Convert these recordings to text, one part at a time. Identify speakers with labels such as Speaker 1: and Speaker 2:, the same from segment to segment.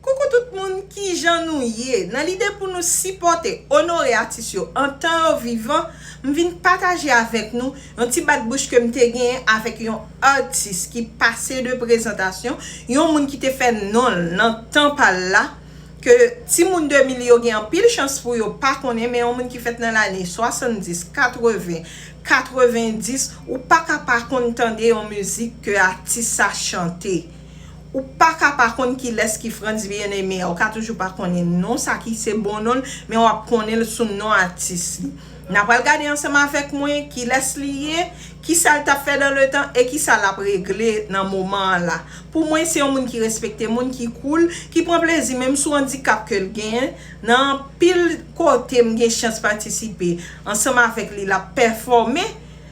Speaker 1: Coucou tout moun kijan nou ye nan lide pou nou sipòte onore atis yo antan yo vivan m vin pataje avèk nou yon ti bat bouch kem te genyen avèk yon atis ki pase de prezantasyon yon moun ki te fè nonl nan tan pal la ke timoun 2000 yo gen anpil chans pou yo pa konnen men yon moun ki fèt nan lane 70 80 90 ou paka pa konn tande yon mizik ke atis sa chante. Ou paka pa konn kilès ki Frantz Bien-Aimé a, ou ka toujou pa konnen non sa ki se bon non l, men w ap konnen l sou non atis li. N apral gade ansanm avèk mwen kilès li ye, kisa l t ap fè dan le tan e kisa l ap regle nan moman an la. Pou mwen se yon moun ki respekte moun, ki koul, ki pran plezi menm sou andikap ke l genyen, nan anpil kote m gen chans patisipe ansanm avèk li l ap pèfòme,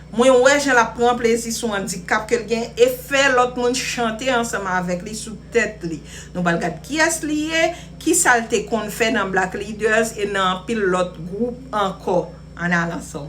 Speaker 1: Mwen wè jan l ap pran plezi sou andikap ke l gen e fè lòt moun chante ansanm avèk li sou tèt li. Nou pral gad kiyès li ye, kisa l te konn fè nan Black Leaders e nan anpil lòt gwoup ankò. Ann al ansanm.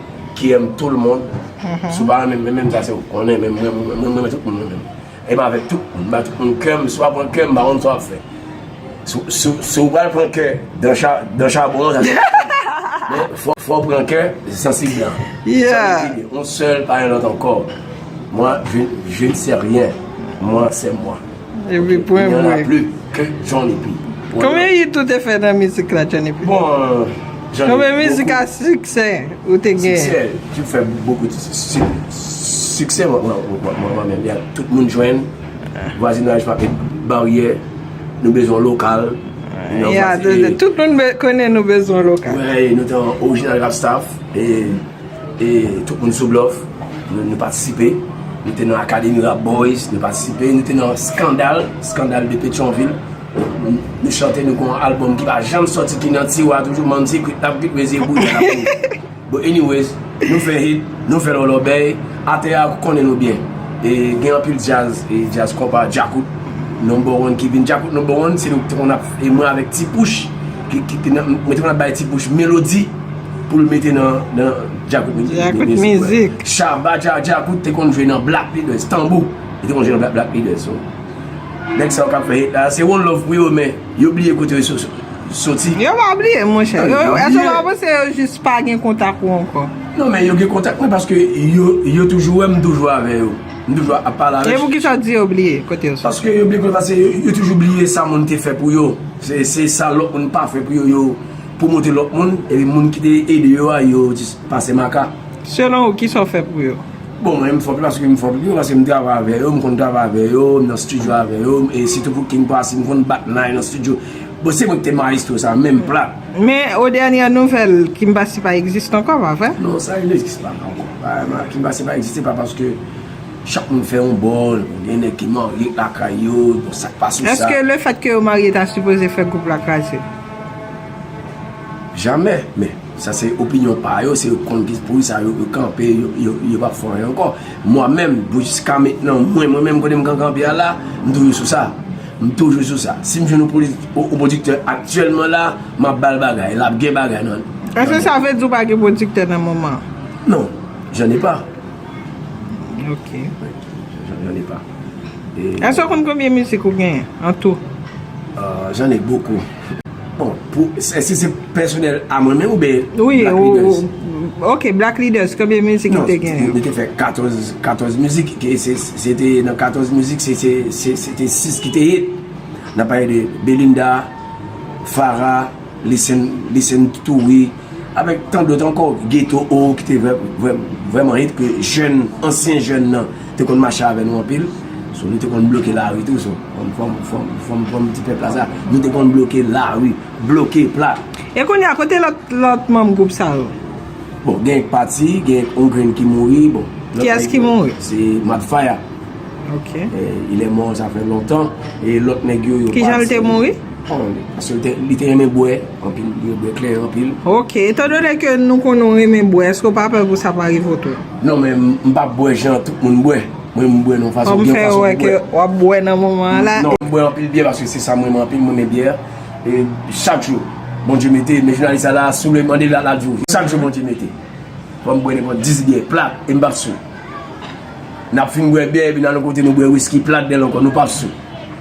Speaker 2: Kiyem toul moun sou pa renmen mwen menm sa se ou konnen men mwen renmen tout moun mwen menm e m avek tout moun m ba tout moun kè m si w pa pran kè m m pa konn sa w ap fè si w pral pran kè dan chabon an sa se ou fò w pran kè sansib lan sa m vle di
Speaker 3: yon sèl pa
Speaker 2: yon lòt ankò mwen je ne sais rien mwen se mwen. Epi pwen
Speaker 3: mwen. Y'en a plus que
Speaker 2: Johnny P. Konbyen hit ou te
Speaker 3: fè nan mizik la Johnny P? Bon Johnny
Speaker 2: P. Konbyen
Speaker 3: mizik a siksè ou te gen? Siksè, jwen fè
Speaker 2: bokou ti siksè. Siksè mwen mwen menm ya tout moun jwenn. Vwazinaj pa gen baryè. Nou bezwen lokal. Ya
Speaker 3: tout moun konnen nou bezwen lokal. Wè nou te
Speaker 2: orijinal Rap Staff e. E tout moun sou blòf, nou patisipe. Nou te nan Akademi Rap Boys, nou patisipe. Nou te nan Skandal, Scandale de Petion-Ville. Nou chante, nou gen yon albòm ki pa janm sòti, ki nan tiwa toujou, Mann Secret, Tap Git Wezi e Bouda Lap Mouri. Bon, anyways, nou fè hit, nou fè lòlòbèy, atè a konnen nou byen. E gen anpil djaz, djaz konpa, djakout, Number One ki vin. Djakout Number One, se nou ki te konn ap, e mwen avèk Ti Pouch, ki te nan, mwen te konn ap bay Ti Pouch melodi. Poul mete nan djakout mizik. Shabba djakout te konn jwe nan black leaders tanbou. Li te konn jwe nan black black leaders so. Nèg sa yo kap fè hit la. Se one love pou yo men yo bliye kote yo soti. Yo pa bliye
Speaker 3: mon chè. Eske w pa panse yo jis pa gen kontak ou ankò. Non men yo gen kontak
Speaker 2: mwen paske yo toujou wè m toujou avè yo. M toujou ap pale avè yo. E poukisa w di yo bliye
Speaker 3: kote yo soti. Paske yo bliye kote yo soti.
Speaker 2: Yo toujou bliye sa moun te fè pou yo. Se sa lòt moun pa fè pou yo yo. Pou montre lòt moun, epi moun ki te ede yo a, yo jis pase maka. Selon ou, kisa w
Speaker 3: fè pou yo? Bon, mwen m fòk
Speaker 2: paske m fòk pou yo, paske m travay avè yo, m konn travay avè yo, m nan stidyo avè yo, e sitou pou King Posse, m konn bat nan y nan stidyo. Bon, se mwen ki te mayestwo sa, menm plat. Men, o dènyè
Speaker 3: nouvèl, King Posse pa egziste ankò, pa vre? Non, sa li egziste
Speaker 2: pa ankò. King Posse pa egziste pa paske chak moun fè yon bò, gen nèg ki marye lakay yo, bon, sa k pa sou sa. Eske lefèt ke yo
Speaker 3: marye ta sipoze fè gwoup la kraze?
Speaker 2: Jamè! Men, sa se opinyon pa yo, se yo konn ki pou sa yo kanpe, yo pa fè anyen ankò. Mwa menm, pou jiska mentnan, mwen mwen menm kote m kanpe a la, m toujou sou sa. M toujou sou sa. Si m jwenn yon pwodiktè aktyèlman la, m ap ba l bagay. L ap gen bagay nan l. Èske sa vle di ou
Speaker 3: pa gen pwodiktè nan moman an? Non.
Speaker 2: J'en ai pas.
Speaker 3: Ok.
Speaker 2: J'en ai pas. Èske ou konn konbyen mizik
Speaker 3: ou genyen an tou? J'en
Speaker 2: ai beaucoup. Bon, pou, èske se pèsonèl a mwen menm oubyen Black Leaders? Wi,
Speaker 3: ok, Black Leaders, konbyen mizik ou te genyen? Non, mwen te fè 14, 14
Speaker 2: mizik, se te nan 14 mizik, se te 6 ki te hit. Nan pale de Belinda, Farah. Listen, Listen to We avèk tan dòt ankò, Ghetto O ki te vrèman hit ke jèn, ansyen jèn nan te konn mache avè nou anpil. So nou te konn bloke lari tou so fòm ti pèp la sa. Nou te konn bloke lari,
Speaker 3: bloke
Speaker 2: plat.
Speaker 3: E
Speaker 2: kounye a,
Speaker 3: kote
Speaker 2: lòt
Speaker 3: manm
Speaker 2: gwoup
Speaker 3: sa yo? Bon,
Speaker 2: gen yon ki pati, gen yon grenn ki mouri, bon. Kiyès ki mouri?
Speaker 3: Se Mad Fire.
Speaker 2: Ok.
Speaker 3: Il est mort
Speaker 2: ça fait longtemps. E lòt nèg yo yo pati. Kijan l te mouri?
Speaker 3: Paske
Speaker 2: li te renmen bwè anpil, li renmen bwè klè anpil. Ok, etan donè ke
Speaker 3: nou konnen ou renmen bwè, eske ou pa pè pou sa pa rive ou tou? Non men, m pa
Speaker 2: bwè jan tout moun bwè. Mwen m bwè nan yon fason, gen yon fason m bwè. Kòm m fè wè ke
Speaker 3: w ap bwè nan moman an la. Non, m bwè anpil byè paske
Speaker 2: se sa m renmen anpil, m renmen byè. E chak jou, Bondye mete, men jounalis sa la, si w vle mande l la, l ap di w. Chak jou Bondye mete. Fò m bwè nenpòt 10 byè plat e m p ap sou. N ap fin bwè byè epi n al yon kote nou bwè wiski plat dèl ankò, nou p ap sou.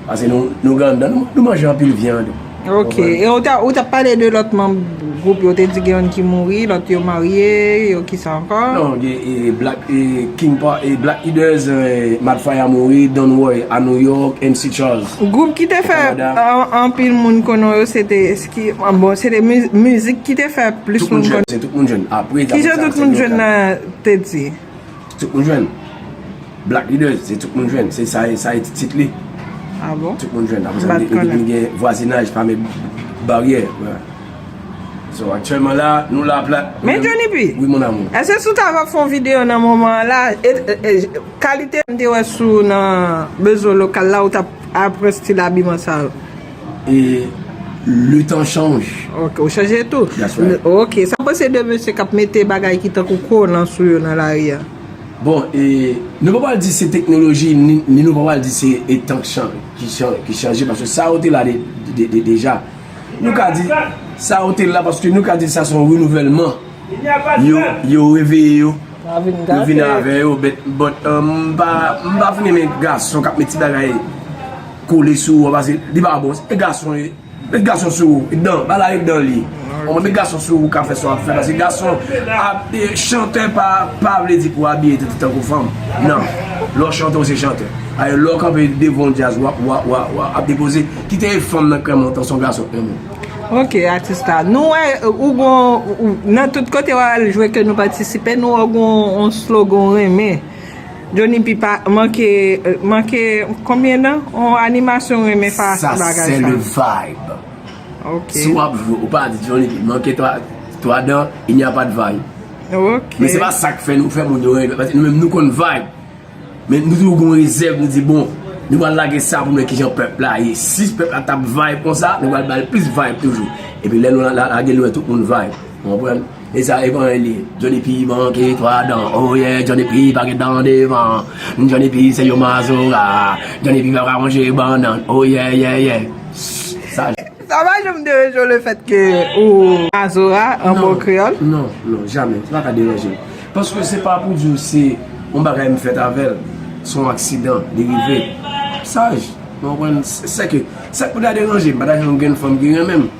Speaker 2: Pase nou granda, nou manje anpil vyand. Ok, e
Speaker 3: ou tap pale de lot manm gwoup yo, ou te di gen yon ki mouri, lot yo marye, yo ki sa anko? Non, gen e Black
Speaker 2: e King pa, e Black Leaders, Mad Fire mouri, Don Roy a New York, MC Charles. Gwoup ki te fè
Speaker 3: anpil moun konnen yo se te, bon se te mizik ki te fè plis moun konnen. Tout moun jwenn,
Speaker 2: se tout moun jwenn. Ki jan tout moun jwenn nan
Speaker 3: te di? Tout moun jwenn.
Speaker 2: Black Leaders se tout moun jwenn. Se sa e ti tit li. Ah bon? Tout
Speaker 3: moun jwenn. Aposa
Speaker 2: li gen li gen vwazinaj pa met baryè. So aktyèlman la, nou la pla. Men Johnny P. Oui
Speaker 3: mon amour. Eske si w
Speaker 2: ta refon
Speaker 3: video nan moman an la, kalite m te wè sou nan Bezo Lokal la ou tap apre stil abiman sa yo?
Speaker 2: Le tan chanj. Ok, ou chanje tou?
Speaker 3: That's right. Ok, sa
Speaker 2: w panse de
Speaker 3: mesye k ap mete bagay ki tankou kolan sou yo nan lari a? Bon, e,
Speaker 2: nou pa pral di se teknoloji ni nou pa pral di se e tan ki chanje paske sa yo te la deja. Nou ka di sa yo te la paske nou ka di sa se yon renouvèlman. Yo reveye yo. Yo vin gate. Yo vin avè yo, but, m pa fin renmen gason k ap met ti bagay. Kole sou ou an pase li pa bon e gason ye met gason sou ou e dan bala e dan li ou met gason sou ou ka fè sa wap fè pase gason ap e chantè pa pa vle di pou abiye tèt ou tankou fanm nan lè w chante ou se chantè alè lè w kanpe devan yon djaz wa wa wa wa ap depoze kite e fanm nan krèm ou antan se yon gason krèm ou. Ok
Speaker 3: atis la nou wè ou gon nan tout kote wap al jwe ke nou patisipe nou wè ou gon yon slogan ou renmen. Jhonny pi pa manke manke konbyen dan on animasyon renmen pa sa bagay sa. Sa se le
Speaker 2: vibe. Ok.
Speaker 3: Si wap jwe ou
Speaker 2: pa di Jhonny pi manke 3 dan il n'y a pas de vibe. Ok. Men se
Speaker 3: pa sak fè
Speaker 2: nou fè moun yo renmen paske nou menm nou konn vibe. Men nou toujou gon rezèv nou di bon nou pral lage sa pou nou wè kijan pèp la ye. Si pèp la tap vibe konsa nou pral bal plis vibe toujou. Epi lè nou lage nou wè tout moun vibe. Ou konprann? E sa e pwen li. Johnny P manke 3 dan oh yeah Johnny P pa gen dan devan Johnny P se yon mazora Johnny P pa ka manje bannann oh yeah yeah yeah Sa j. Sa pa
Speaker 3: janm deranje w le fèt ke ou mazora an bon kreyòl? Non, non, jamè.
Speaker 2: Sa pa ka deranje m. Paske se pa pou di w se yon bagay m fèt avè l. Se yon aksidan, li rive. Sa j. Ou konprann? Sèke, sa k pou ta deranje m? Pa ta janm gen fanm ki renmen m.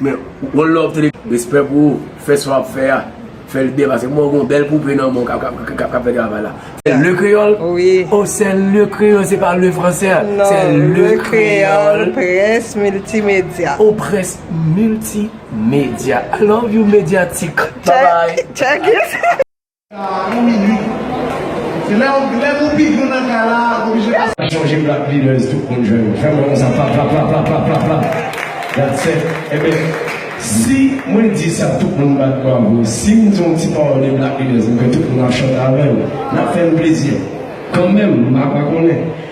Speaker 3: Men one
Speaker 2: love tele respè pou ou fè sa wap fè a fèl byen pase kouman ou gen yon bèl poupe nan menw kap fè travay la se le kreyòl oh se
Speaker 3: le
Speaker 2: kreyòl se pa le fransè se le kreyòl près milti
Speaker 3: medya oh près
Speaker 2: milti medya i love you medyatik babay.
Speaker 3: Yon minit.
Speaker 4: Se lè ou lè pou pi gou nan kay la ou oblije pase. Pa chanje black leaders
Speaker 5: tout moun jwenn ou fèm wè konsa plaplaplaplaplaplapla that's it enben si mwen di sa tout moun bat bravo sim di yon ti pawòl de black leaders mwen kwè tout moun ap chante avèm nap fèm plezi kanmèm mpa konnen